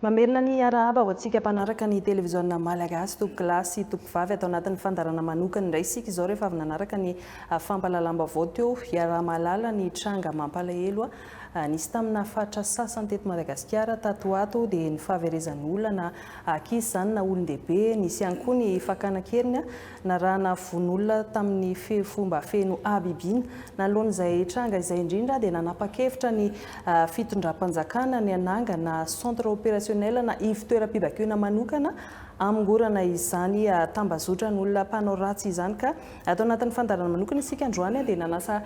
Mamerina ny hiarahaba ho antsika mpanaraka ny televiziona Malagasy tompoko lahy sy tompoko vavy ato anatin'ny fandaharana manokana indray isika izao rehefa avy nanaraka ny fampahalalam-baovao teo hiaraha-mahalala ny tranga mampalahelo nisy tamina faritra sasany teto Madagasikara tato ho ato dia ny fahaverezan'olona na ankizy izany na olon-dehibe nisy ihany koa ny fakana an-keriny Narahana vono olona tamin'ny fomba feno habibiana. Nanoloana izay tranga izay indrindra dia nanapa-kevitra ny fitondram-panjakana ny hanangana centre opérationnel na ivo-toeram-pibaikoana manokana hamongorana izany tambazotran'olona mpanao ratsy izany ka ato anatin'ny fandaharana manokana isika androany dia nanasa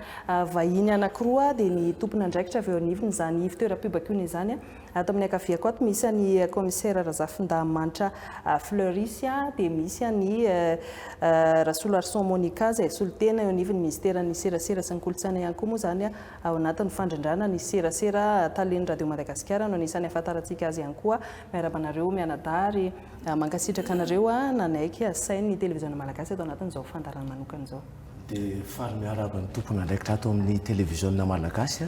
vahiny anankiroa dia ny tompon'andraikitra avy eo anivon'izany ivo-toeram-pibaikoana izany Ato amin'ny ankaviako ato misy an'i Kaomisera Razafindahamanitra Fleury sy aho dia misy an'i Rasoloarison Monica izay solontena eo anivon'ny Minisiteran'ny Serasera sy ny Kolontsaina ihany koa moa izany ao anatin'ny fandrindràna ny serasera. Talen'ny Radio Madagasikara no anisan'ny ahafantarantsika azy ihany koa. Miarahaba anareo mianadahy ary mankasitraka anareo nanaiky hasain'ny Televiziona Malagasy ato anatin'izao fandaharana manokana izao. Dia faly miarahaba ny tompon' andraikitra ato amin' ny Televiziona Malagasy.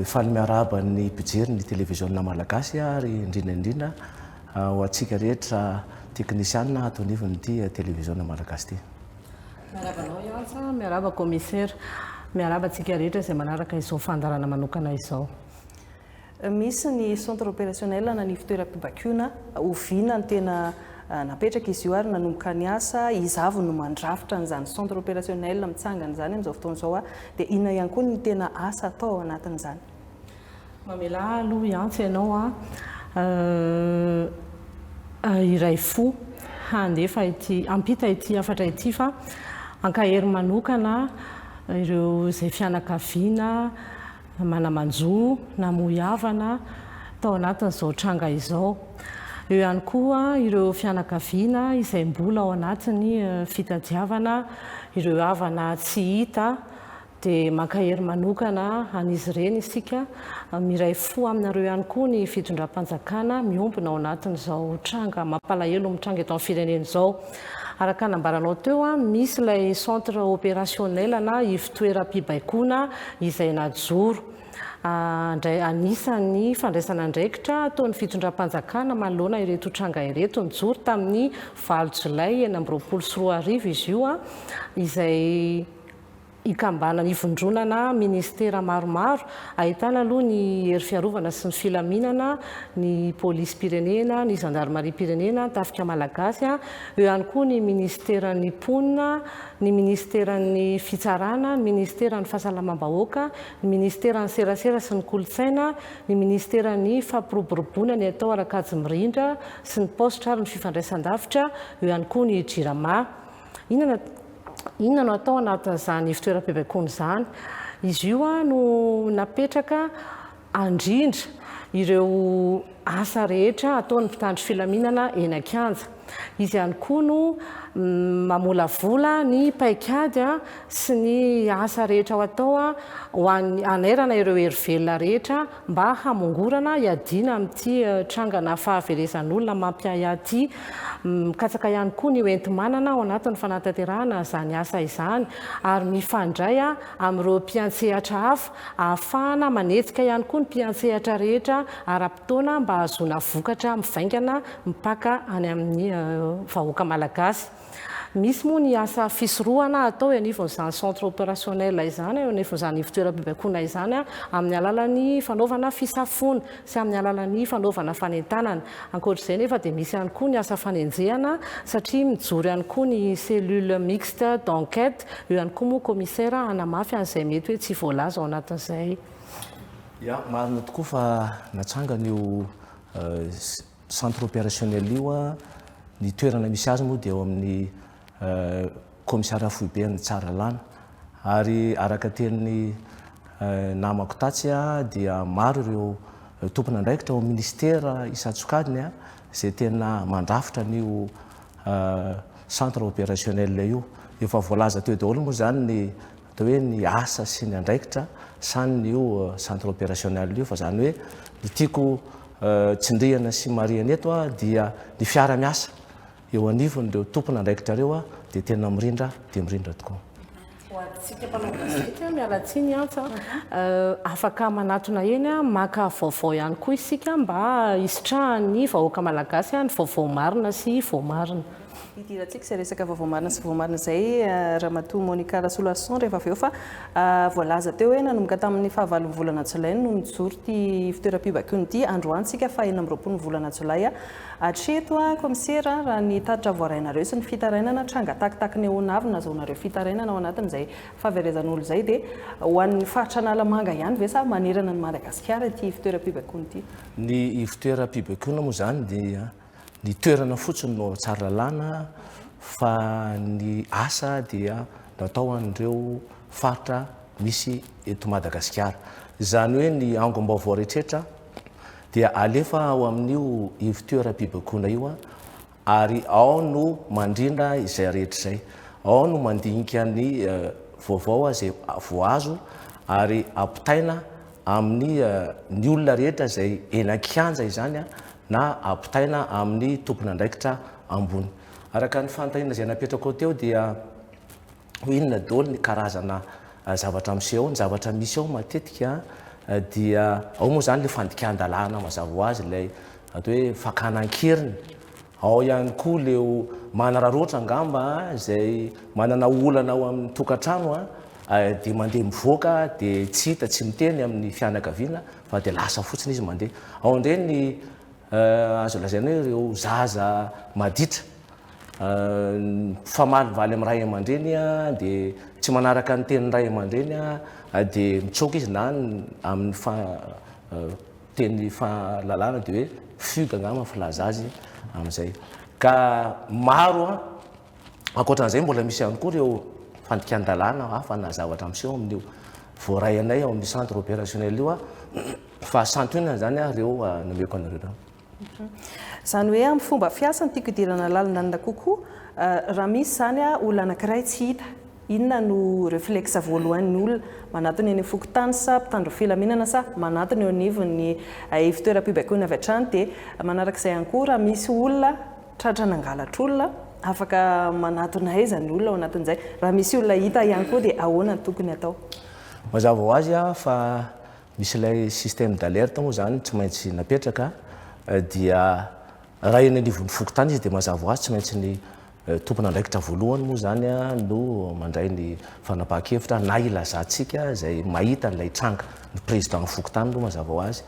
Faly miarahaba ny mpijery ny Televiziona Malagasy ary indrindra indrindra ho antsika rehetra teknisiana ato anivon' ity Televiziona Malagasy ity. Miarahaba anao Yance, miarahaba Kaomisera, miarahaba antsika rehetra izay manaraka izao fandaharana manokana izao. Misy ny centre opérationnel na ny fitoeram-pibakoana oviana no tena napetraka izy io ary nanomboka ny asa, iza avy no mandrafitra an'izany centre opérationnel mitsangana izany amin'izao fotoana izao dia inona ihany koa ny tena asa atao ao anatin'izany? Mamelà ahy aloha hiantso ianao aho hiray fo handefa ity, hampita ity hafatra ity fa hankahery manokana ireo izay fianakaviana, Mana-manjo namoy havana tao anatin'izao tranga izao. Eo ihany koa ireo fianakaviana izay mbola ao anatin'ny fitadiavana ireo havana tsy hita dia mankahery manokana an'izy ireny isika. Miray fo aminareo ihany koa ny fitondram-panjakana miombona ao anatin'izao tranga mampalahelo mitranga eto amin'ny firenena izao. Araka nambaranao teo, misy ilay centre opérationnel na ivotoeram-pibaikoana izay najoro. Indray anisan'ny fandraisana andraikitra ataon'ny fitondram-panjakana manoloana ireto tranga ireto. Nijoro tamin'ny valo jolay enina amby roapolo sy roa arivo izy io izay Ikambana ivondronana ministera maromaro, ahitana aloha ny hery fiarovana sy ny filaminana, ny polisim-pirenena, ny zandarimariam-pirenena, ny tafika malagasy, eo ihany koa ny ministeran'ny mponina, ny ministeran'ny fitsarana, ny ministeran'ny fahasalamam-bahoaka, ny ministeran'ny serasera sy ny kolontsaina, ny ministeran'ny fampiroboroboana ny atao ara-kajy mirindra sy ny paositra ary ny fifandraisan-davitra, eo ihany koa ny jirama. Inona inona no atao anatin'izany ivotoeram-pibaikoana izany? Izy io no napetraka andrindra ireo asa rehetra ataon'ny mpitandro filaminana eny an-kianja. Izy ihany koa no mamolavola ny paikady sy ny asa rehetra ho atao ho an'ny hanairana ireo hery velona rehetra mba hamongorana hiadiana amin'ity trangana fahaverezan'olona mampiahiahy ity. Mikatsaka ihany koa ny ho enti-manana ao anatin'ny fanatanterahana izany asa izany ary mifandray amin'ireo mpiantsehatra hafa ahafahana manetsika ihany koa ny mpiantsehatra rehetra ara-potoana mba hahazoana vokatra mivaingana mipaka any amin'ny vahoaka malagasy. Misy moa ny asa fisorohana atao eo anivon'izany centre opérationnel izany, eo anivon'izany ivontoeram-pibaikoana izany, amin'ny alalan'ny fanaovana fisafoana sy amin'ny alalan'ny fanaovana fanentanana. Ankoatr'izay nefa dia misy ihany koa ny asa fanenjehana satria mijoro ihany koa ny cellule mixte d'enquête, eo ihany koa moa Commissaire hanamafy an'izay mety hoe tsy voalaza ao anatin'izay. Ya, marina tokoa fa natsangana io Centre opérationnel io an, ny toerana misy azy moa dia ao amin'ny kaomisaria foibe an'i Tsaralalàna. Ary araka tenin'ny namako tatsy an, dia maro ireo tompon'andraikitra ao amin'ny minisitera isan-tsokajiny an, izay tena mandrafitra an'io centre opérationnel io. Efa voalaza teo daholo moa izany ny Dia hoe ny asa sy ny andraikitra san io centre opérationnel io, fa zany hoe ny tiako tsindriana sy marihana eto a dia ny fiara miasa eo anivon'ireo tompon andraikitra ireo a dia tena mirindra dia mirindra tokoa. Ho antsika mpanao gazety a, miala tsiny Antsa a, afaka manatona eny a, maka vaovao ihany koa isika mba hisitrahan'ny vahoaka malagasy a ny vaovao marina sy voamarina. Hidirantsika izay resaka vaovao marina sy voamarina izay Ramatoa Monica Rasoloarison rehefa avy eo fa voalaza teo hoe nanomboka tamin'ny fahavalon'ny volana jolay no nijoro ity fitoeram-pibaikoana ity androany tsika fa enina amby roapolo volana jolay hatreto komisera raha ny tatitra voarainareo sy ny fitarainana tranga takitakin'ny ahoanavy nazaonareo fitarainana ao anatin'izay faverezan'olo izay dia ho an'ny faritra Analamanga ihany ve sa manerana ny Madagasikara ity fitoeram-pibaikoana ity? Ny fitoeram-pibaikoana moa izany dia Ny toerana fotsiny no ao Tsaralalàna fa ny asa dia natao an'ireo faritra misy eto Madagasikara. Izany hoe ny angom-baovao rehetra dia alefa ao amin'io ivon-toeram-pibaikoana io ary ao no mandrindra izay rehetra izay. Ao no mandinika ny vaovao izay voazo ary ampitaina amin'ny ny olona rehetra izay eny an-kianja izany na ampitaina amin'ny tompon'andraikitra ambony. Araka ny fanontaniana izay napetrakao teo dia ho inona daholo ny karazana zavatra miseho ao? Ny zavatra misy ao matetika dia ao moa izany ilay fandikan-dalàna mazava ho azy, ilay atao hoe fakana an-keriny, Ao ihany koa leo manararaotra angamba izay manana olana ao amin'ny tokantrano dia mandeha mivoaka dia tsy hita, tsy miteny amin'ny fianakaviana fa dia lasa fotsiny izy mandeha. Ao indray ny azo lazaina hoe ireo zaza maditra mifamalivaly amin'ny ray aman-dreny dia tsy manaraka ny tenin'ny ray aman-dreny dia mitsoaka izy na amin'ny teny fahalalana dia hoe fugue angamba ny filaza azy amin'izay. Ka maro ankoatran'izay mbola misy ihany koa ireo fandikan-dalàna hafa na zavatra miseho amin'io voaray anay ao amin'ny centre opérationnel io fa santionany izany ireo nomeko anareo ireo. Mhm. Izany hoe amin'ny fomba fiasany tiako hidirana lalindalina kokoa raha misy izany olona anankiray tsy hita Inona no reflexe voalohain' ny olona manatona eny fokontany sa mpitandro filaminana sa manatona eo anivon' ny ivtoeram-pibaikoana avy hatrany dia manaraka izay ihany koa raha misy olona tratra nangalatra olona afaka manatona aiza ny olona ao anatin' izay raha misy olona hita ihany koa dia ahoana ny tokony hatao. Mazava ho azy fa misy ilay système d' alerte moa izany tsy maintsy napetraka dia raha eny anivon' ny fokontany izy dia mazava ho azy tsy maintsy ny Tompon'andraikitra voalohany moa izany no mandray ny fanapahan-kevitra na ilazantsika izay mahita an'ilay tranga. Ny Président fokontany aloha mazava ho azy.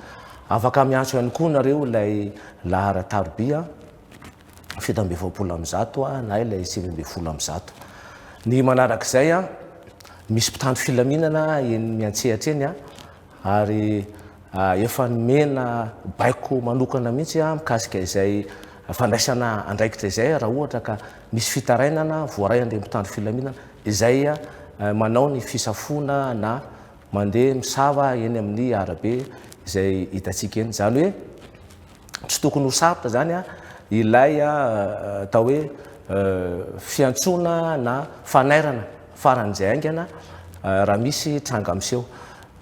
Afaka miantso ihany koa nareo ilay laharan-tarobia an, fito amby efapolo amby zato an, na ilay sivy ambin'ny folo amby zato. Ny manarak'izay an, misy mpitandro filaminana eny miantsehatra eny an, ary efa nomena baiko manokana mihitsy mikasika izay fandraisana andraikitra izay raha ohatra ka misy fitarainana voaray an'ireny mpitandro filaminana izay manao ny fisafoana na mandeha misava eny amin'ny arabe izay hitantsika eny. Izany hoe. tsy tokony ho sarotra izany ilay atao hoe fiantsoana na fanairana faran'izay haingana raha misy tranga miseho.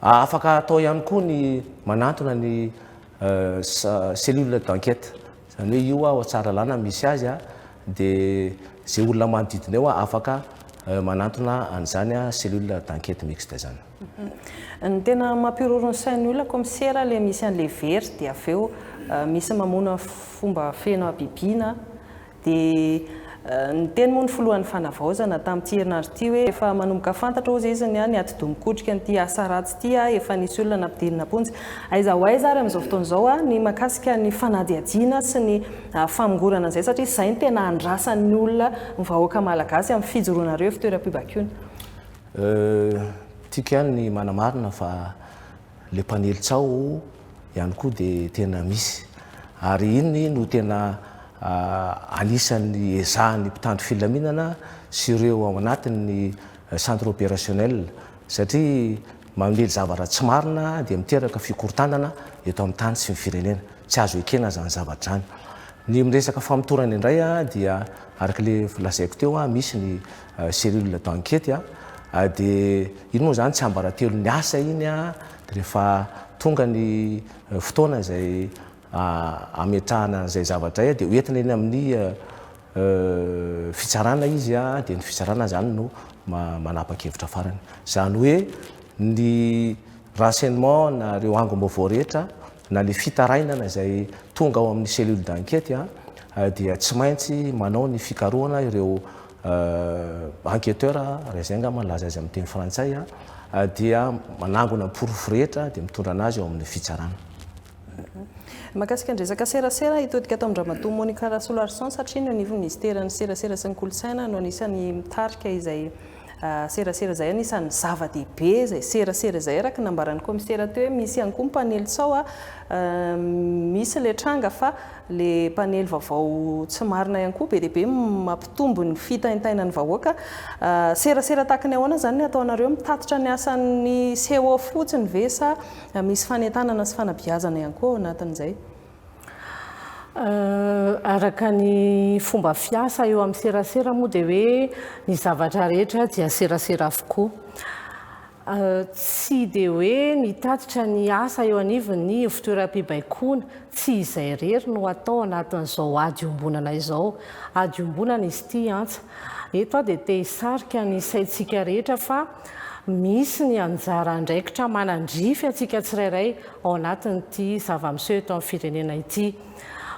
Afaka atao ihany koa ny manantona ny cellule d'enquête, izany hoe io ao Tsaralalana no misy azy, dia izay olona manodidina eo afaka manantona an'izany cellule d'enquête mixte izany. Ny tena mampiroro ny sain'ny olona komisera le misy an'le very dia avy eo misy mamono fomba feno habibiana dia niteny moa ny filohan'ny fanavaozana tamin'ity herinandro ity hoe efa manomboka fantatra hozy izy ny atidoha mikotrika an'ity asa ratsy ity efa nisy olona nampidirina am-ponja aiza ho aiza ary amin'izao fotoana izao ny makasika ny fanadihadiana sy ny famongorana an'izay satria izay ny tena andrasan'ny olona ny vahoaka malagasy amin'ny fijoroanareo fitoeram-pibaikoana Euh, tiako ihany ny manamarina fa le mpanely tsaho ihany koa de tena misy. Ary iny no tena ah, anisan'ny ezahan'ny mpitandro filaminana sy ireo ao anatin'ny centre opérationnel satria mamely zavatra tsy marina dia miteraka fikorontanana eto amin'ny tany sy ny firenena. Tsy azo ekena zany zavatra zany. Ny miresaka famotorana indray ah, dia araka le lazaiko teo ah, misy ny cellule d'enquete a, dia iny moa izany tsiambaratelo ny asa iny a, dia rehefa tonga ny fotoana izay ametrahana an'izay zavatra izay dia hoentina eny amin'ny fitsarana izy a, dia ny fitsarana izany no manapa-kevitra farany. Izany hoe ny renseignement na ireo angom-baovao rehetra na ny fitarainana izay tonga ao amin'ny cellule d'enquete dia tsy maintsy manao ny fikarohana ireo enquêteur raha izay angamba no laza azy amin'ny teny frantsay, dia manangona ny porofo rehetra dia mitondra anazy eo amin'ny fitsarana. Mahakasika ny resaka serasera, hitodika ato amin-dRamatoa Monica Rasoloarison satria ny eo anivon'ny Minisiteran'ny serasera sy ny kolontsaina no anisan'ny mitarika izay serasera izay, anisan'ny zava-dehibe izay serasera izay araka ny nambaran'ny Kaomisera teo hoe misy ihany koa ny mpanely sao, misy ilay tranga fa Le mpanely vaovao tsy marina ihany koa be dia be mampitombo ny fitaintainan'ny vahoaka. Serasera tahaka ny ahoana izany no ataonareo? Mitatitra ny asan'ny CO fotsiny ve sa misy fanentanana sy fanabeazana ihany koa ao anatin'izay? Araka ny fomba fiasa eo amin'ny serasera moa dia hoe ny zavatra rehetra dia serasera avokoa. Tsy dia hoe mitatitra ny asa eo anivon'ny ivotoeram-pibaikoana. Tsy izay irery no atao anatin'izao ady iombonana izao. Ady iombonana izy ity antsa. Eto aho dia te hisarika ny saintsika rehetra fa misy ny anjara andraikitra manandrify antsika tsirairay ao anatin'ity zava-miseho eto amin'ny firenena ity.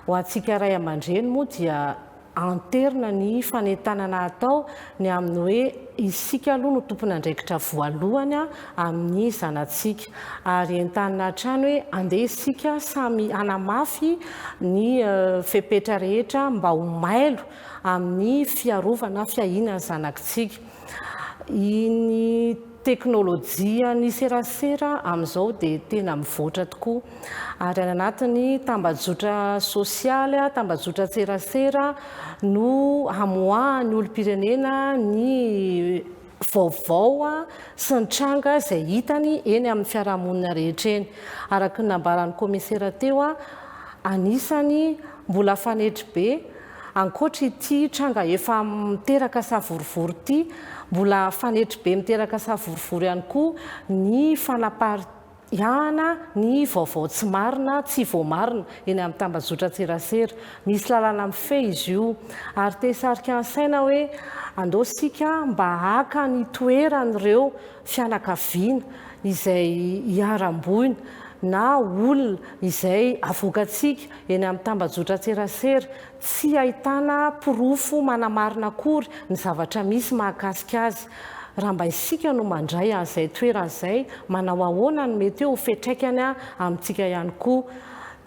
Ho antsika ray aman-dreny moa dia Anterina ny fanentanana atao ny amin'ny hoe isika aloha no tompon'andraikitra voalohany amin'ny zanatsika. Ary entanina hatrany hoe andeha isika samy hanamafy ny fepetra rehetra mba ho mailo amin'ny fiarovana, fiahiana ny zanakitsika. Iny. Teknolojian'ny serasera amin'izao dia tena mivoatra tokoa ary any anatin'ny tambajotra sosialy, tambajotran-tserasera no hamoahan'ny olom-pirenena ny vaovao sy ny tranga izay hitany eny amin'ny fiarahamonina rehetra eny. Araka ny nambaran'ny kaomisera teo, anisany mbola fanetry be Ankoatra ity tranga efa miteraka savorovoro ity, mbola fanetry be miteraka savorovoro ihany koa ny fanapariahana ny vaovao tsy marina, tsy voamarina eny amin'ny tambazotran-tserasera. Misy lalana mifehy izy io ary te hisarika ny saina hoe andao isika mba haka ny toeran'ireo fianakaviana izay iharam-boina na olona izay avoakantsika eny amin'ny tambajotran-tserasera tsy ahitana porofo manamarina akory ny zavatra misy mahakasika azy. Raha mba isika no mandray an'izay toerana izay, manao ahoana no mety ho fiatraikany amintsika ihany koa?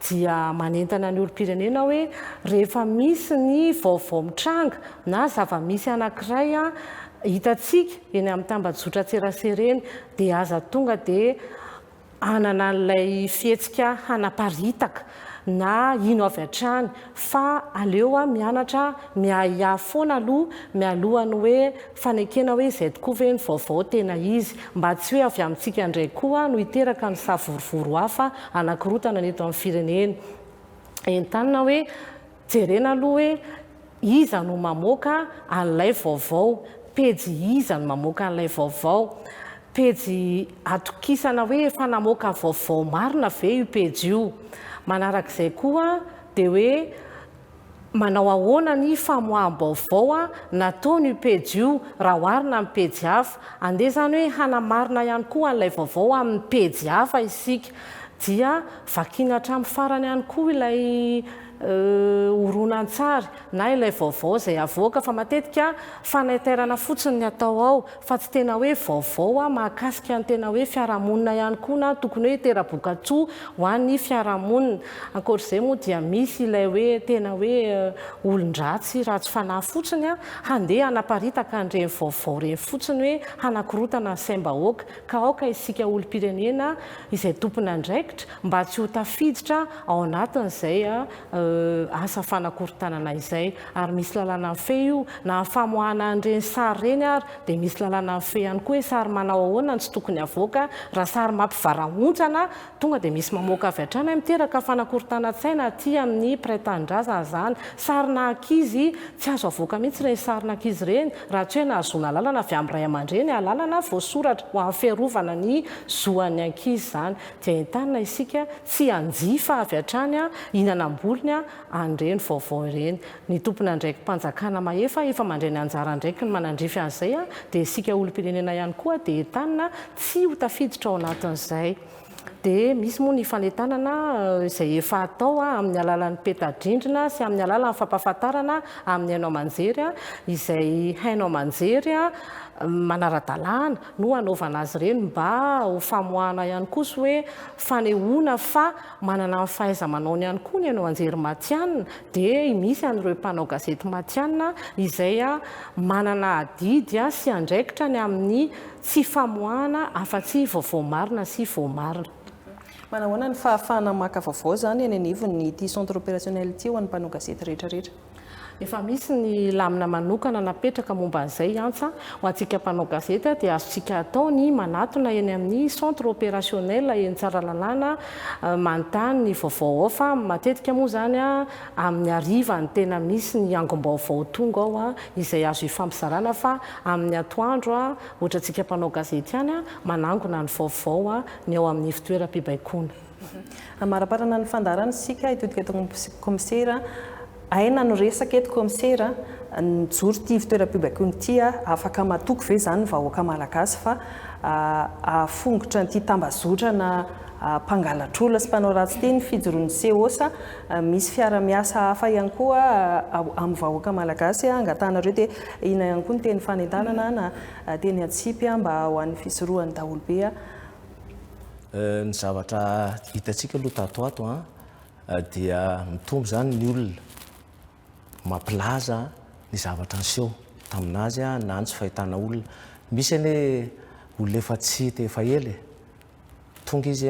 Dia manentana ny olom-pirenena hoe rehefa misy ny vaovao mitranga na zava-misy anankiray hitantsika, eny amin'ny tambajotran-tserasera eny dia aza tonga dia hanana an'ilay fihetsika hanaparitaka na hino avy hatrany fa aleo mianatra miahiahy foana aloha mialoha ny hoe fanekena hoe izay tokoa ve ny vaovao tena izy mba tsy hoe avy amintsika indray koa no hiteraka ny savorovoro hafa hanakorontana ny eto amin'ny firenena entanina hoe Jerena aloha hoe iza no mamoaka an'ilay vaovao, pejy iza no mamoaka an'ilay vaovao, pejy atokisana hoe efa namoaka vaovao marina ve io pejy io. Manarak'izay koa dia hoe manao ahoana ny famoaham-baovao nataon'io pejy io raha oharina amin'ny pejy hafa. Andeha izany hoe hanamarina ihany koa an'ilay vaovao amin'ny pejy hafa isika dia vakiana hatramin'ny farany ihany koa ilay horonantsary na ilay vaovao izay havoaka fa matetika fanaitairana fotsiny ny atao ao fa tsy tena hoe vaovao mahakasika ny tena hoe fiarahamonina ihany koa na tokony hoe hitera-bokatsoa ho an'ny fiarahamonina. Ankoatr'izay moa dia misy ilay hoe tena hoe olon-dratsy ratsy fanahy fotsiny handeha hanaparitaka an'ireny vaovao ireny fotsiny hoe hanakorotana ny saim-bahoaka ka aoka isika olom-pirenena izay tompon'andraikitra mba tsy ho tafiditra ao anatin'izay asa fanakorontanana izay, ary misy lalàna mifehy io, na ny famoahana an'ireny sary ireny ary dia misy lalàna mifehy ihany koa hoe sary manao ahoana no tsy tokony havoaka, raha sary mampivarahontsana tonga dia misy mamoaka avy hatrany hoe miteraka fanakorontanan-tsaina aty amin'ny mpiray tanindrazana izany, sarina ankizy, tsy azo avoaka mihitsy ireny sarina ankizy ireny raha tsy hoe nahazoana alalana avy amin'ny ray aman-dreny, alalana voasoratra ho amin'ny fiarovana ny zo an'ny ankizy izany. dia entanina isika tsy hanjifa avy hatrany hinanam-bolony an'ireny vaovao ireny. Ny tompon'andraiki-panjakana mahefa efa mandray ny anjara andraikiny manandrify an'izay dia isika olom-pirenena ihany koa dia entanina tsy ho tafiditra ao anatin'izay. Dia misy moa ny fanentanana izay efa atao amin'ny alalan'ny peta-drindrina sy amin'ny alalan'ny fampahafantarana amin'ny haino aman-jery izay haino aman-jery manara-dalàna, no hanaovana azy ireny mba ho famoahana ihany koa sy hoe fanehoana fa manana ny fahaiza-manaony ihany koa ny haino an-jery matihanina dia misy an'ireo mpanao gazety matihanina izay manana adidy sy andraikitra ny amin'ny tsy famoahana afa-tsy vaovao marina sy voamarina. Manahoana ny fahafahana maka vaovao izany eny anivon'ity Centre Opérationnel ity ho an'ny mpanao gazety rehetra rehetra? Efa misy ny lamina manokana napetraka momba an'izay antsa. Ho antsika mpanao gazety dia azontsika atao ny manatona eny amin'ny Centre Opérationnel eny Tsaralalàna manontany ny vaovao ao fa matetika moa izany amin'ny hariva no tena misy ny angom-baovao tonga ao izay azo ifampizarana fa amin'ny atoandro ohatrantsika mpanao gazety ihany manangona ny vaovao ny ao amin'ny fitoeram-pibaikoana. Amaraparana ny fandaharana isika, hitodika eto amin'ny Komisera. Aina no resaka eto Komisera, nijoro ity ivon-toeram-pibaikoana ity aho, afaka matoky ve izany ny vahoaka Malagasy fa hahafongotra an'ity tambazotrana mpangalatr'olona sy mpanao ratsy ity ny fijoroan'ny CO sa misy fiara-miasa hafa ihany koa amin'ny vahoaka Malagasy angatahanareo dia inona ihany koa ny teny fanentanana na teny antsipy mba ho an'ny fisorohan'ny daholobe Ny zavatra hitantsika aloha tato ato an, dia mitombo izany ny olona mampilaza ny zavatra niseho tamin'azy na ny tsy fahitana olona. Misy anie olona efa tsy hita efa ela e, tonga izy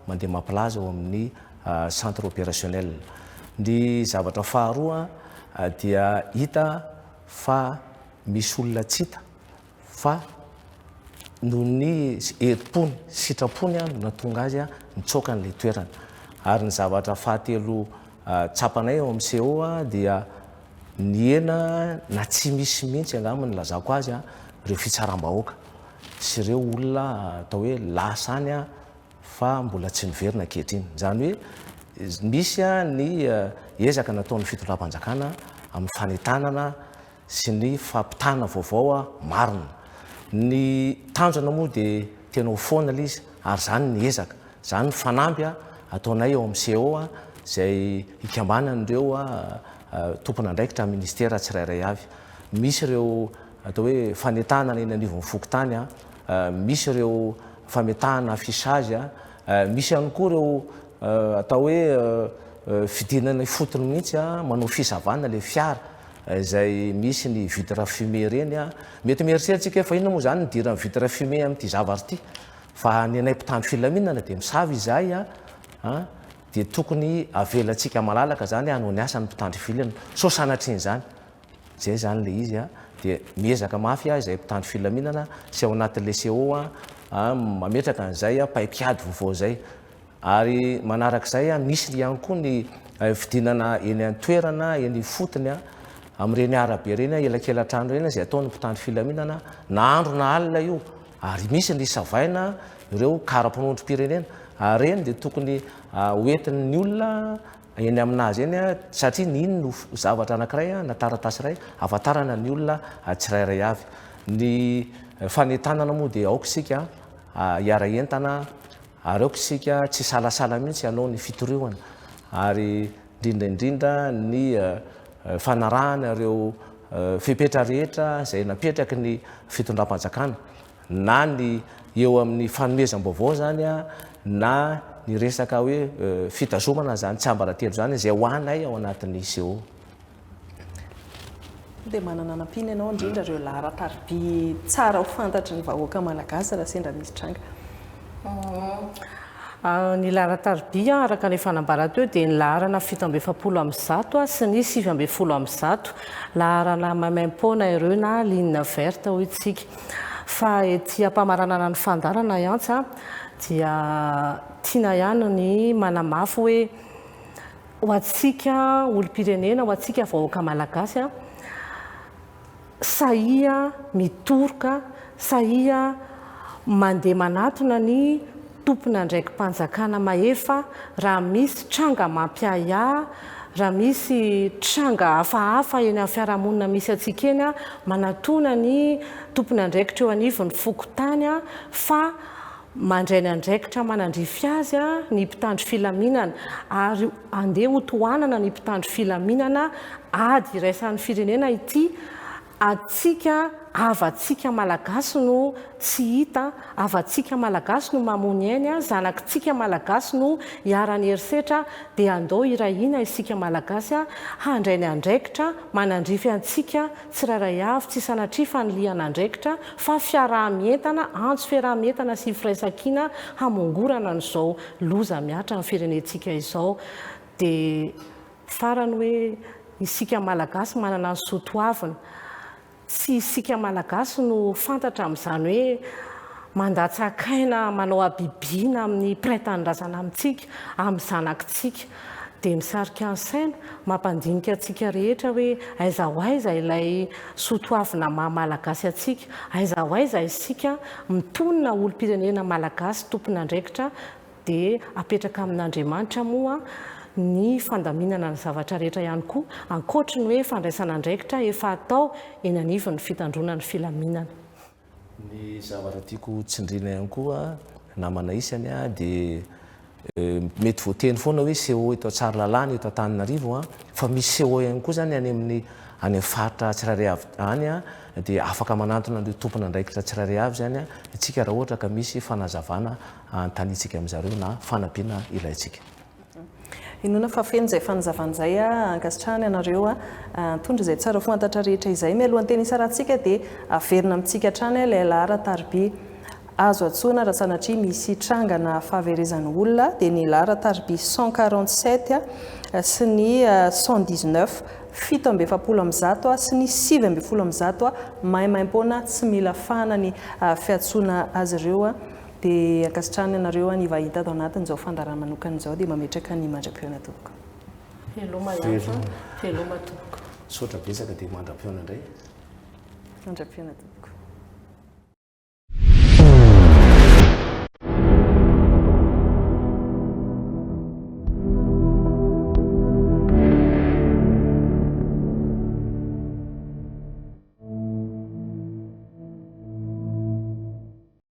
mandeha mampilaza ao amin'ny centre opérationnel. Ny zavatra faharoa dia hita fa misy olona tsy hita. fa noho ny herim-pony, sitrapony no nahatonga azy nitsoaka an'ilay toerana. Ary ny zavatra fahatelo tsapanay ao amin'ny CO dia nihena na tsy misy mihitsy angamba ny ilazako azy ireo fitsaram-bahoaka sy ireo olona atao hoe lasa any fa mbola tsy niverina ankehitriny. Izany hoe misy ny ezaka nataon'ny fitondram-panjakana amin'ny fanentanana sy ny fampitana vaovao marina. Ny tanjona moa dia tena ho foana ilay izy ary izany ny ezaka, izany ny fanamby ataonay ao amin'ny CO izay ikambanan'ireo tompon'andraikitra amin'ny Minisitera tsirairay avy. Misy ireo atao hoe fanentanana eny anivon'ny fokontany, misy ireo fametahana affichage, misy ihany koa ireo atao hoe fidinana ifotony mihitsy manao fisavana ilay fiara izay misy ny vitre fumée ireny an! mety mieritreritra isika hoe fa inona moa izany ny idiran'ny vitre fumée amin'ity zavatra ity? fa ny anay mpitandro filaminana dia misava izahay an! dia tokony avelantsika malalaka izany hanao ny asany ny mpitandro filaminana sao sanatria izany izay izany ilay izy an! dia miezaka mafy aho izahay mpitandro filaminana sy ao anatin'ilay CO an! mametraka an'izay an! paik'ady vaovao izay Ary manaraka izay, misy ihany koa ny fidinana eny an-toerana, eny ifotony, amin'ireny arabe ireny, elakelan-trano ireny, izay ataon'ny mpitandro filaminana na andro na alina io. Ary misy ny savaina, ireo kara-panondrom-pirenena. Ary ireny dia tokony hoentin'ny olona eny amin'azy eny, satria ny iny no zavatra anankiray na taratasy iray ahafantarana ny olona tsirairay avy. Ny fanentanana moa dia aoka isika hiara-hientana. Ary aoka isika tsy hisalasala mihitsy hanao ny fitoriana ary indrindra indrindra ny fanarahana ireo fepetra rehetra izay napetraky ny fitondram-panjakana, na ny eo amin'ny fanomezam-baovao izany na ny resaka hoe fitazomana izany tsiambaratelo izany izay ho anay ao anatin'ny ICO. Dia manana hanampiana ianao indrindra ireo laharan-tariby tsara ho fantatry ny vahoaka malagasy raha sendra misy tranga. Ah, ny laharan-tariby araka ny efa nambara teo dia ny laharana fito amby efapolo amby zato sy ny sivy amby folo amby zato. Laharana maimaim-poana ireo na ligne verte hoy isika. Fa ety am-pamaranana ny fandaharana i Antsa dia tiana ihany ny manamafy hoe Ho antsika olom-pirenena, ho antsika vahoaka malagasy, sahia mitoroka, sahia mandeha manatona ny tompon'andraiki-panjakana mahefa raha misy tranga mampiahiahy, raha misy tranga hafahafa eny amin'ny fiarahamonina misy antsika eny, manatona ny tompon'andraikitra eo anivon'ny fokontany fa Mandray ny andraikitra manandrify azy ny mpitandro filaminana ary andeha ho tohanana ny mpitandro filaminana ady iraisan'ny firenena ity adintsika havantsika malagasy no tsy hita havantsika malagasy no mamoa ny ainy zanakitsika malagasy no iharan'ny herisetra dia andao hirahina isika malagasy handray ny andraikitra manandrify antsika tsirairay avy, tsy sanatria fanilihan'andraikitra fa fiaraha-mientana, antso fiaraha-mientana sy firaisankina hamongorana an'izao loza mihatra amin'ny firenentsika izao. Dia farany hoe isika Malagasy manana ny soa toavina. Tsy isika Malagasy no fantatra amin'izany hoe mandatsa-kaina, manao habibiana amin'ny mpiray tanindrazana amintsika, amin'ny zanakitsika. dia misarika ny saina, mampandinika antsika rehetra hoe aiza ho aiza ilay soa toavina maha Malagasy antsika, aiza ho aiza isika mitonona olom-pirenena Malagasy tompon'andraikitra dia apetraka amin'Andriamanitra moa ny fandaminana ny zavatra rehetra ihany koa ankoatry ny hoe fandraisana andraikitra efa atao eny anivon'ny fitandroana ny filaminana. Ny zavatra tiako ho tsindriana ihany koa namana isany dia mety voateny foana hoe CO eto Tsaralalana eto Antananarivo fa misy CO ihany koa izany any amin'ny any amin'ny faritra tsirairay avy any dia afaka manantona an'ireo tompon'andraikitra tsirairay avy izany isika raha ohatra ka misy fanazavana hanontaniantsika amin'izareo na fanampiana ilaintsika. Inoana fa feno izay fanazavana izay a! Ankasitrahana ianareo a! Mitondra izay tsara fantatra rehetra izay. Mialohan'ny teny hisarahantsika dia averina amintsika hatrany a ilay lahara tariby azo antsoina raha sanatria misy trangana fahaverezana olona dia ny lahara tariby cent quarante sept a sy ny cent dix neuf, fito amby efapolo amin'ny zato a sy ny sivy ambin'ny folo amin'ny zato a, maimaimpoana tsy mila fahana ny fiantsoana azy ireo a! Dia ankasitrahana anareo any vahiny tato anatin izao fandaharana manokana izao dia mametraka ny mandra-pihaona tompoko. Veloma Lanto a! Veloma tompoko. Misaotra betsaka dia mandra-pihaona indray. Mandra-pihaona tompoko.